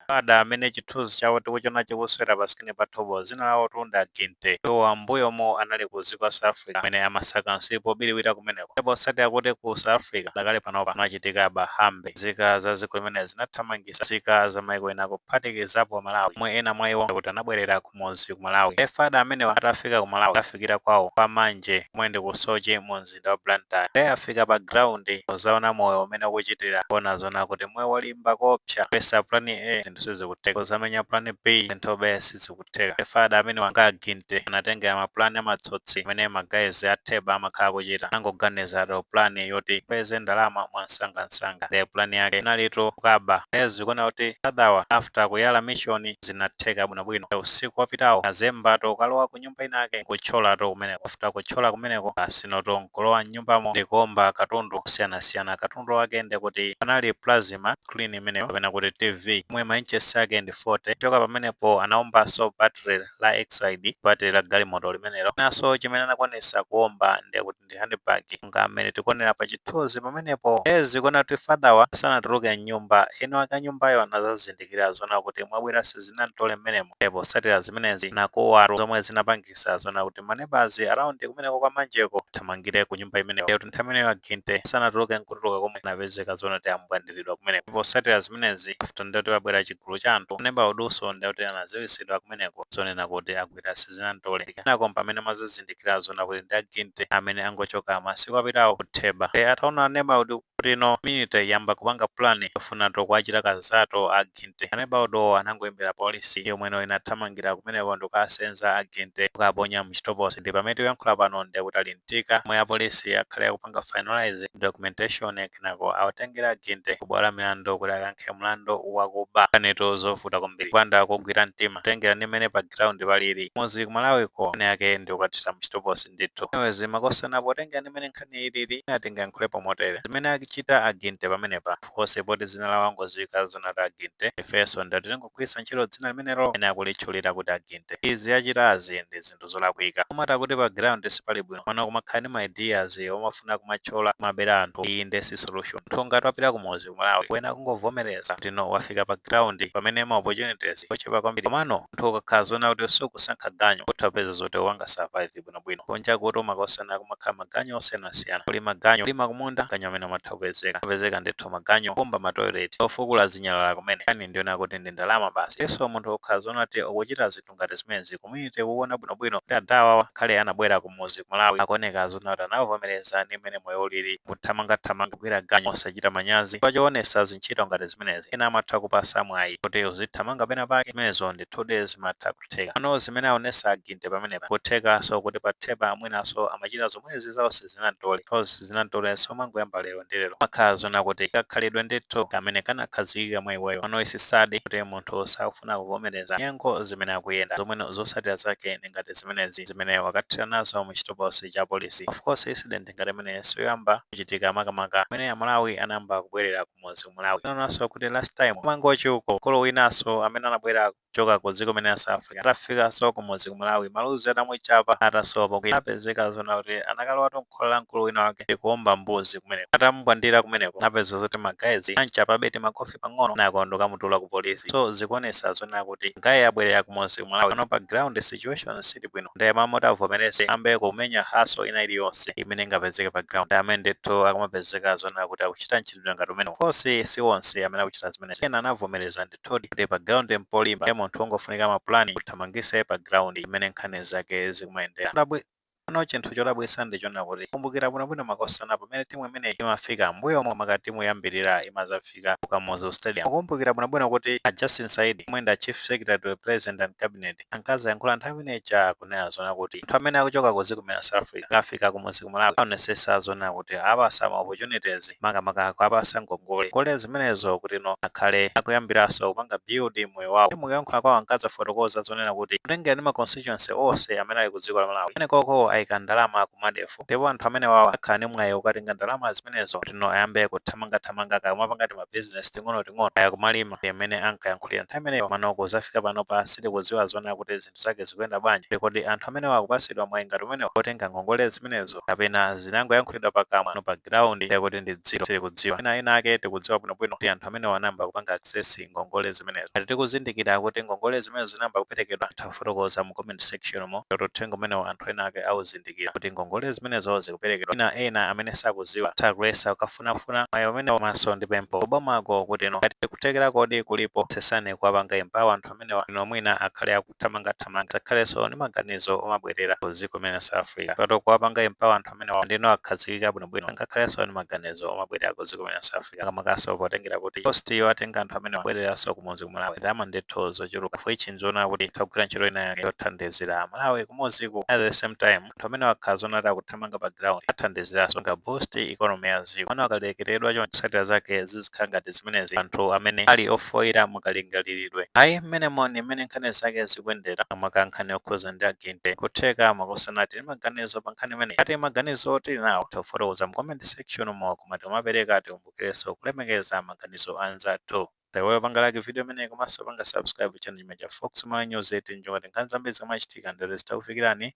Ada amene chithunzi chawo tikuchiona chikusewera pa screen pathupa dzina lawotu ndi a Ginte. Iwowa m'mbuyomu anali ku dziko la South Africa kumene amasaka nsipu wobiriwira kumeneko. Ndipo potsatira kuti ku South Africa padakali pano kunachitika aba hambe, nzika za dziko limeneli zinathamangitsa nzika za maiko ena kuphatikizapo Amalawi omwe ena mwa iwo ndekuti anabwererako. kumuzi ku Malawi. Fada amenewa atafika ku Malawi kukafikira kwawo kwa Manje komwe ndi ku Soche mu mzinda wa Blantyre. Nde afika pa ground kuzaona moyo umene ukuchitira nkuona zoona kuti moyo ngolimba koopsa kuyesa plan A zinthu sizikutheka kuzamenya plan B zinthu be sizikutheka. Fada amenewa a Ginte anatengera ma plan a matsotsi amene ma guys a Theba amakhala akuchita. Anangoganizatu plan yoti apeze ndalama mwa msangamsanga. Nde plan yake inalitu kukaba. Nde zikuoneka kuti adawa after kuyala mission zinatheka bwino. bwino bwino. Usiku wapitawo anazembatu kukalowa ku nyumba inayake nkutcholatu kumeneko. After kutchola kumeneko tsinotu nkulowa mnyumbamo ndikuomba katundu osiyanasiyana. Katundu wake ndekuti panali plasma screen imeneyo kapena kuti TV yomwe ma inches ake ndi 40. Kuchoka pamenepo anaombaso battery la Exide, battery la galimoto limenelo. Chinaso chimene anakwanisa kuomba ndekuti. ndi handbag monga mmene tikuonera pa chithunzi pamenepo. Ndiye zikuoneka kuti father'wa sanatuluke m'nyumba. Eni wake a nyumbayo anazazindikira zoona kuti mwabwera a sizinam'tole mmenemo. Ndiye potsatira zimenezi anakuwa zomwe zinapangitsa zoona kuti ma neighbours around kumeneko kwa Manjeko athamangire ku nyumba imeneyo. Ndiye kuti nthawi imeneyo a Ginte sanatuluke n'kutuluka komwe anapezeka zoona kuti ambwandiridwa kumeneko. Ndipo potsatira zimenezi after ndiye kuti pabwera chigulu cha anthu, neba udinso ndiye kuti anadziwitsidwa kumeneko zonena kuti a ndinagwira sizinamtole. Kenako mpamene amazazindikira zona kuti ndi a Ginte amene angochoka masiku apitawo ku Theba. Nde ataona aneba udu kuti no mwina ayamba kupanga plan yofunatu kuachita kanthutu a Ginte. Aneba uduwo anangoimbira polisi yomweno inathamangira kumeneko ndikukasenza a Ginte kukaponya mchitokosi. Ndipamene tikuyankhula pano ndekuti ali zikachitika omwe apolisi akhale akupanga finalise documentation kenako awatengere a Ginte ku bwalo la milandu kuti akayankhe mlandu wakuba. Nkhanitu zovuta kwambiri ukapanda kugwira mtima kutengera ndi mmene pa ground palili. Kumudzi ku Malawiko nkhani yake ndi kukathera muchitokosi ndithu. Anyways makosana potengera ndi mmene nkhaniyi ilili mwina tingayankhulepo motere. Zimene achita a Ginte pamenepa of course poti dzina lawo wangodziwika zoona kuti a Ginte ifenso ndekuti tingogwiritsa ntchito dzina limenelo mmene akulitchulira kuti a Ginte. Izi achitazi ndi zinthu. zinthu zolakwika olo mati kuti pa ground sipali bwino komano kumakhala ndi ma ideas omafuna kumatchola kumabera anthu ayi nde si solution munthu ngati wapita kumuzi ku malawi kuyenera kungovomereza kuti no wafika pa ground pamene ma opportunities ochepa kwambiri komano munthu ukakhala zona kuti sukusankha ganyu utha kupeza zoti upanga survive bwinobwino kunja kunotu makosana kumakhala maganyu osiyanasiyana kuli maganyu kulima kumunda ganyu amene amatha kupezeka kupezeka ndithu maganyu kumba matoilet ofukula zinyalala komwe nkhani ndi yonena kuti ndi ndalama basi linso munthu ukakhala zona kuti ukuchita zinthu zinthu ngati zimenezi community kukuona bwinobwino kuti adha awawa ngakhale anabwera kumuzi ku Malawi akuoneka zona kuti anavomereza ndi mmene moyo ulili kuthamangathamanga kugwira ganyu osachita manyazi chifukwa choonesa zintchito ngati zimenezi ena amatha kupasa mwayi kuti uzithamanga pena pake zimenezo ndithudi zimatha kutheka komano zimene aonesa aginte pamenepa kuthekaso kuti pa Theba mwinaso amachita zomwezi za zinatole coz zinatole siumangoyamba lero ndi lero makhala zona kuti ndi kakhalidwe ndithu kamene kanakhazikika mwa iweyo and it's sad kuti munthu sakufuna kuvomereza nyengo zimene akuyenda zomwe zosatira zake ndi ngati zimenezi zimene wakathera nazo mu chitokosi cha polisi of course incident ngati imeneyi siyoyamba kuchitika makamaka pamene amalawi anayamba kubwerera kumudzi kumalawi tinanenanso kuti last time ku Mangochi uko mkulu winaso amene anabwera kuchoka ku dziko limene la South Africa atafikanso kumudzi ku Malawi maluzi atamuchapa atasowa pokwera anapezeka zona kuti anakalowatu m'khola la mkulu wina wake ndi kuomba mbuzi kumeneko atamumbwandira kumeneko anapeza zoti magayizi anchapabe timakofi pang'ono kenako ndikukamutula ku polisi so zikuonesa zona kuti magaye abwerera kumudzi ku Malawi pano pa ground situation sili bwino ndiye m'malo moti avomereze ayambe kumenya hustle ina iliyonse imene ingapezeke pa ground ndi amene ndithu akumapezeka zona kuti akuchita mchitidwe ngati umenewu of course si onse amene akuchita zimenezi ena anavomereza ndi Ndithudi, kuti pa ground mpolimba, ndiye munthu ungofunika ma plan kuthamangisa iye pa ground mmene nkhani zake zikumayendera. Chodabwi Pano chinthu chodabwisa ndi chonena kuti mukumbukira bwinobwino makosana pamene timu imeneyi imafika mbuyomu maka timu yoyambirira imazafika ku Kamuzu Stadium. Mukumbukira bwinobwino kuti a Justin Saidi omwe ndi a Chief Secretary to the President and Cabinet ankazayankhula nthawi ina ija kunena zona kuti anthu amene akuchoka ku ziko limene la South Africa akafika kumuzi ku Malawi aonesesa zona kuti apasa ma opportunities makamaka kuwapasa ngongole ngongole zimenezo kuti no akhale akuyambiraso kupanga build moyo wawo Ndi mukuyankhula kwawo ankazafotokoza zonena kuti kutengera ndi ma constituency onse amene ali ku dziko la Malawi kumenekoko ayika ndalama ku MEDF Ndipo anthu amenewawa akhala ndi mwayi wokatenga ndalama zimenezo kuti no ayambe kuthamangathamanga kaya kumapanga tima business ting'onoting'ono kaya kumalima ngati mmene ankayankhulira nthawi imeneyo komano kuzafika panopa sitikuziwa zoona kuti zinthu zake zikuyenda bwanji ndi kodi anthu amenewa akupasidwa mwayi ngati umenewo wotenga ngongole zimenezo kapena zinangoyankhulidwa pakamwa no pa ground ndiye kuti ndi zero sitikudziwa mwina ena ake tikudziwa bwinobwino kuti anthu amenewa anayamba kupanga access ngongole zimenezo ngati tikuzindikira kuti ngongole zimenezo zinayamba kuperekedwa titha kufotokoza mu comment section mo kuti uthenga umenewo anthu ena ake auzindikire. kuzindikira kuti ngongole zimenezo zikuperekedwa mwina ena amene sakuziwa atha kuyesa kukafunafuna mwayi umenewo komanso ndi pempho ku bomako kuti no ngati kuthekerakodi kulipo yesetsani kuwapanga empower anthu amenewa kuti no mwina akhale akuthamangathamanga asakhalenso ndi maganizo omabwerera ku dziko limene la South Africa pato kuwapanga empower anthu amenewa ndiye no akhazikika bwinobwino sangakhalenso ndi maganizo omabwerera ku dziko limene la South Africa akumakaso potengera kuti boost yo atenga anthu amene abwereranso kumudzi ku malawi ndalama ndithu zochuluka ndiye ichi nzoona kuti tagwira ntchito ina yake yothandizira malawi kumudziku at the same time anthu amene akhala zoonadi akuthamanga pa ground athandiziranso ku boost economy ya dziko pano akalekereredwa choncho zotsatira zake zizikhala ngati zimenezi anthu amene ali ofooka mukalingaliridwe ayi mmene mwaonera mmene nkhani zake zikuyendera makamaka nkhani yokhuza ndi ma agent kutheka mwakutsalani ndi maganizo pa nkhani imeneyi ngati maganizo muli nawo tafotokozani mu comment section Section mo koma tikamapereka tikumbukirenso kulemekeza maganizo a anzathu. Osaiwala kupanga like video imeneyi komanso kupanga subscribe channel chino cha Fox Malawi News ndi cholinga choti nkhani zambiri zikamachitika zithe kukufikirani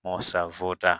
mosavuta.